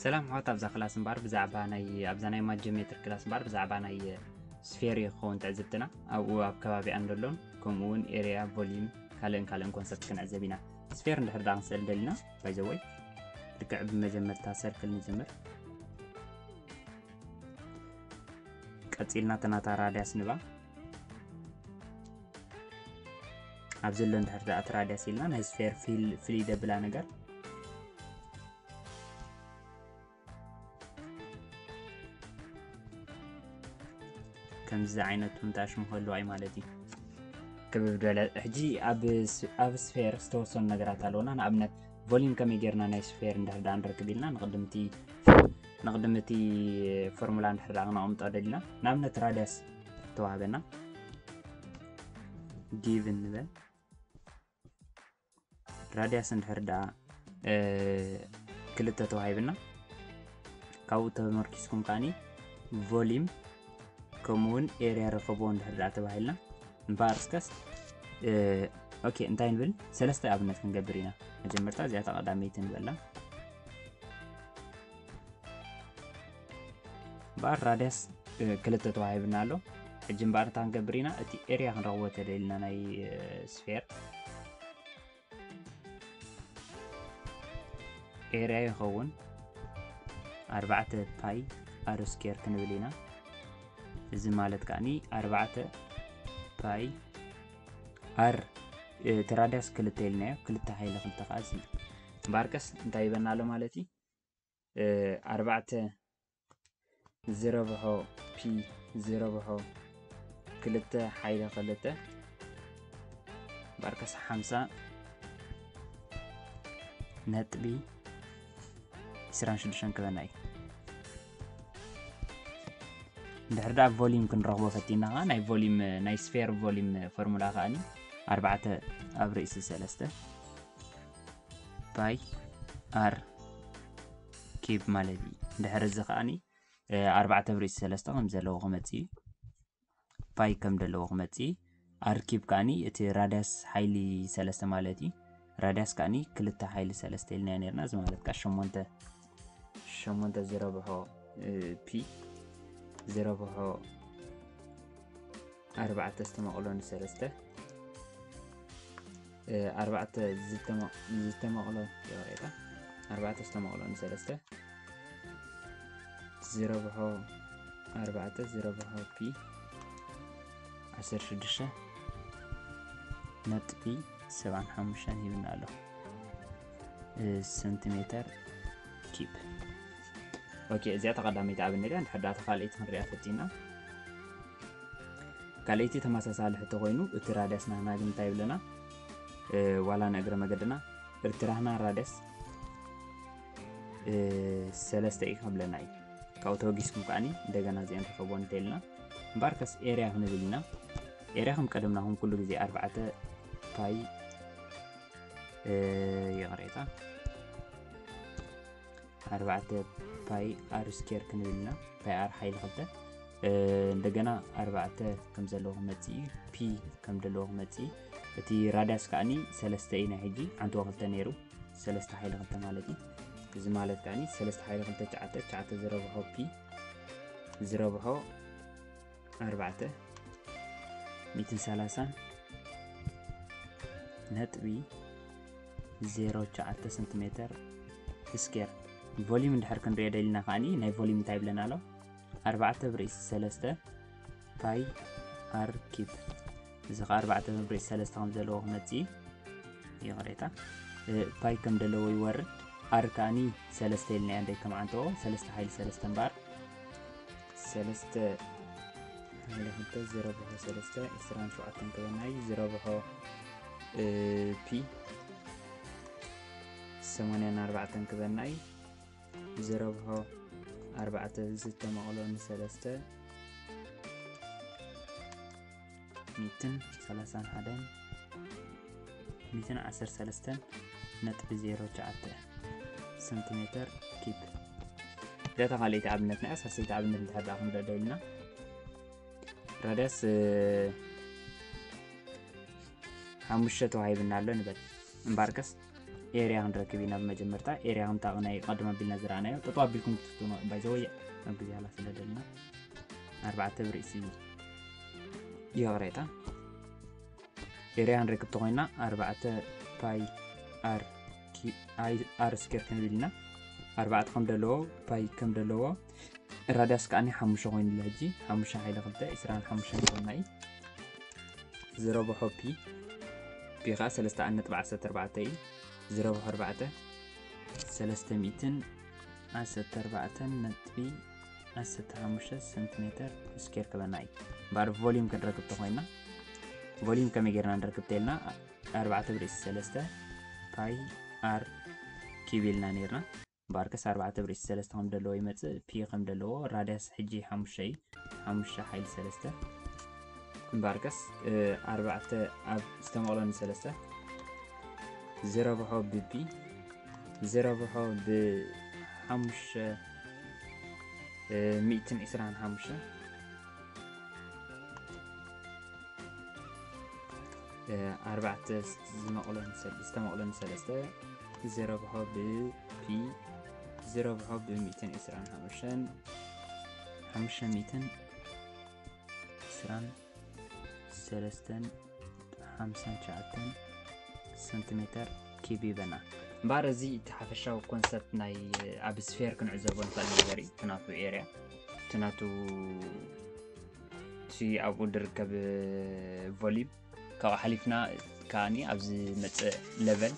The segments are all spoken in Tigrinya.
ሰላም ሕዋት ኣብዛ ክላስ እምበኣር ብዛዕባ ናይ ኣብዛ ናይ ማጀሜትር ክላስ እምበኣር ብዛዕባ ናይ ስፌር ክኸውን ትዕዝብትና ኣብኡ ኣብ ከባቢኣን ዘሎን ከምኡ እውን ኤርያ ቮሊዩም ካልእን ካልእን ኮንሰፕት ክንዕዘብ ኢና ስፌር እንድሕር ዳ ክንስእል ደሊና ባይዘወይ ልክዕ ብመጀመርታ ሰርክል ንጀምር ቀጺልና እታ ናታ ራድያስ ንባ ኣብ ዘሎ እንድሕር ደኣ እቲ ራድያስ ኢልና ናይ ስፌር ፍልይ ደብላ ነገር ከምዚ ዓይነት ምንታሽ ምኸሉ ኣይ ማለት እዩ ክብብ ዝበለ ሕጂ ኣብ ስፌር ዝተወሰኑ ነገራት ኣለውና ንኣብነት ቮሊም ከመይ ጌርና ናይ ስፌር እንድሕር ዳኣ ንረክብ ኢልና ንቅድምቲ ንቅድሚ እቲ ፎርሙላ እንድሕር ዳኣ ክነቕምጦ ደሊና ንኣብነት ራድያስ ተዋህበና ጊቭ ንበል ራድያስ እንድሕር ዳኣ ክልተ ተዋሂብና ካብኡ ተመርኪስኩም ከዓኒ ቮሊም ከምኡ እውን ኤርያ ረኸቦ እንድሕር ደኣ ተባሂልና እምበኣር እስከስ ኦኬ እንታይ ንብል ሰለስተ ኣብነት ክንገብር ኢና መጀመርታ እዚኣ ተቐዳመይቲ ንበላ እምበኣር ራድያስ ክልተ ተዋሂብና ኣሎ ሕጂ እምበኣር እንታይ ክንገብር ኢና እቲ ኤርያ ክንረኽቦ ተደልና ናይ ስፌር ኤርያ ይኸውን ኣርባዕተ ፓይ ኣሮ ስኬር ክንብል ኢና እዚ ማለት ከዓኒ ኣርባዕተ ፓይ ኣር እቲ ራዳስ ክልተ ኢልናዮ ክልተ ሃይለ ክልተ ከዓ እዚ እምበኣር ቀስ እንታይ ይበና ኣሎ ማለት እዩ ኣርባዕተ ዝረብሖ ፒ ዝረብሖ ክልተ ሓይለ ክልተ ባርከስ ሓምሳ ነጥቢ ዕስራን ሽዱሽተን ክበና እዩ ድሕሪ ደኣ ቮሊም ክንረኽቦ ፈቲና ከዓ ናይ ቮሊም ናይ ስፌር ቮሊም ፎርሙላ ከዓኒ ኣርባዕተ ኣብ ርእሲ ሰለስተ ባይ ኣር ኪብ ማለት እዩ ድሕሪ እዚ ከዓኒ ኣርባዕተ ብሪት ሰለስተ ከም ዘለዎ ክመፅ እዩ ፓይ ከም ዘለዎ ክመፅ እዩ ኣርኪብ ከዓኒ እቲ ራዳስ ሓይሊ ሰለስተ ማለት እዩ ራዳስ ከዓኒ ክልተ ሓይሊ ሰለስተ ኢልና ነርና እዚ ማለት ከዓ ሸሞንተ ሸሞንተ ዝረብሖ ፒ ዝረብሖ ኣርባዕተ ዝተመቕሎ ንሰለስተ ኣርባዕተ ዝተመቕሎ ይቕሬታ ኣርባዕተ ዝተመቕሎ ንሰለስተ ዝረብሖ ኣርባዕተ ዝረብሖ ፒ ዓሰርተ ሽዱሽተ ነጥቢ ሰብዓን ሓሙሽተን ሂብና ኣሎ ሰንቲሜተር ኪፕ ኦኬ እዚኣ ተቐዳመይቲ ኣብነት እያ እንድሕር ዳታ ካልኣይቲ ክንሪኣ ፈቲና ካልኣይቲ ተመሳሳሊ ሕቶ ኮይኑ እቲ ራድያስ ናህና ግን እንታይ ይብለና ዋላ ንእግረ መገድና እቲ ራህና ራድያስ ሰለስተ እዩ ክብለና እዩ ካብኡ ተወጊስኩም ከዓኒ እንደገና እዚአን ተኸቦ እንተይልና እምበኣር ከስ ኤርያ ክንብል ኢና ኤርያ ከም ቀደምና ኹም ኩሉ ግዜ ኣርባዕተ ፓይ ይቕሬታ ኣርባዕተ ፓይ ኣር ስኬር ክንብል ኢና ፓይ ኣር ሓይሊ ክልተ እንደገና ኣርባዕተ ከም ዘለዎ ክመፅእ እዩ ፒ ከም ዘለዎ ክመፅእ እዩ እቲ ራዳስ ከዓኒ ሰለስተ እዩ ናይ ሕጂ ዓንተ ክልተ ነይሩ ሰለስተ ሓይሊ ክልተ ማለት እዩ እዚ ማለት ከዓኒ ሰለስተ ሓይሊ ክልተ ትሽዓተ ትሽዓተ ዝረብሖ ፒ ዝረብሖ ኣርባዕተ ሚትን ሰላሳን ነጥቢ ዜሮ ሸዓተ ሰንቲሜተር ስኬር ቮሊዩም እንድሕር ክንሪኦ ደሊና ከዓኒ ናይ ቮሊዩም እንታይ ይብለና ኣሎ ኣርባዕተ ብርእሲ ሰለስተ ፓይ ኣር ኪብ እዚ ከዓ ኣርባዕተ መብርዒ ሰለስተ ከም ዘለዎ ክመፅእ እዩ ይቕሬታ ፓይ ከም ዘለዎ ይወርድ ኣር ከዓኒ ሰለስተ ኢልና እያ ደይ ከመዓንተኦ ሰለስተ ሓይሊ ሰለስተ እምበኣር ሰለስተ ሓይሊ ክልተ ዝረብሖ ሰለስተ ዕስራን ሸውዓተን ከበናይ ዝረብሖ ፒ ሰማንያን ኣርባዕተን ክበናይ ዝረብሖ ኣርባዕተ ዝተመቕሎ ንሰለስተ ሚትን ሰላሳን ሓደን ሚትን ዓሰር ሰለስተን ነጥቢ ዜሮ ሸዓተ ሰንቲሜተር ኪብ ገታ ካልእቲ ኣብነት ናይ ሳሰይቲ ኣብነት እንተሓዳ ክንረዶ ኢልና ረዳስ ሓሙሽተ ተዋሂብና ኣሎ ንበል እምበኣርከስ ኤርያ ክንረክብ ኢና ብመጀመርታ ኤርያ ክንታቕ ናይ ቀደም ኣቢልና ዝረኣናዮ ጠጠው ኣቢልኩም ክትፍትኑ ባይዘወይ ኣብ ግዜ ሃላ ስለ ደልና ኣርባዕተ ብርእሲ ይቕሬታ ኤርያ ክንረክብ ተኮይና ኣርባዕተ ፓይ ኣር ኣር ስኬር ክንብል ኢና ኣርባዕተ ከም ደለዎ ፓይ ከም ደለዎ ራዳስ ከዓኒ ሓሙሽተ ኮይኑላ ሕጂ ሓሙሽተ ሓይለ ክልተ ዕስራን ሓሙሽተን ኮይና እዩ ዝረብሖ ፒ ፒ ከዓ ሰለስተ ዓን ነጥቢ ዓሰርተ ኣርባዕተ እዩ ዝረብሖ ኣርባዕተ ሰለስተ ሚእትን ዓሰርተ ኣርባዕተን ነጥቢ ዓሰርተ ሓሙሽተ ሰንቲሜተር ስኬር ክበና እዩ እምበኣር ቮሊዩም ክንረክብ ተኮይና ቮሊዩም ከመይ ጌርና ንረክብ ተኢልና ኣርባዕተ ብርእሲ ሰለስተ ፓይ ኣር ኪብ ኢልና ነርና እምበኣርከስ ኣርባዕተ ብርእሲ ሰለስተ ከም ደለዎ ይመጽእ ፒ ከም ደለዎ ራድያስ ሕጂ ሓሙሽተ እዩ ሓሙሽተ ሓይሊ ሰለስተ እምበኣርከስ ኣርባዕተ ኣብ ዝተመቕሎ ንሰለስተ ዝረብሖ ብፒ ዝረብሖ ብሓሙሽተ ሚእትን ዕስራን ሓሙሽተ ኣርባዕተ ዝተመቕሎ ንሰለስተ እቲ ዝረብሖ ብ ፒ እቲ ዝረብሖ ብ ሚእትን ዕስራን ሓሙሽተን ሓሙሽተ ሚእትን ዕስራን ሰለስተን ሓምሳን ትሽዓተን ሰንቲሜተር ኪቢበና እምበኣር እዚ እቲ ሓፈሻዊ ኮንሰፕት ናይ ኣብ ስፌር ክንዕዘቦ ንኽእል ነገር እዩ እቲ ናቱ ኤርያ እቲ ናቱ እቲ ኣብኡ ዝርከብ ቮሊም ካብኡ ሓሊፍና ከዓኒ ኣብ ዝመፅእ ለቨል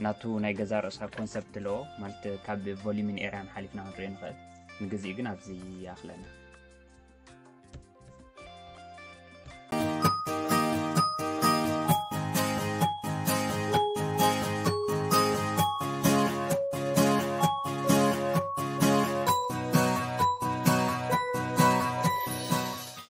ናቱ ናይ ገዛ ርእሳ ኮንሰፕት ኣለዎ ማለት ካብ ቮሊሚን ኤርያን ሓሊፍና ክንሪኦ ንኽእል ንግዜ ግን ኣብዚ ይኣኽለና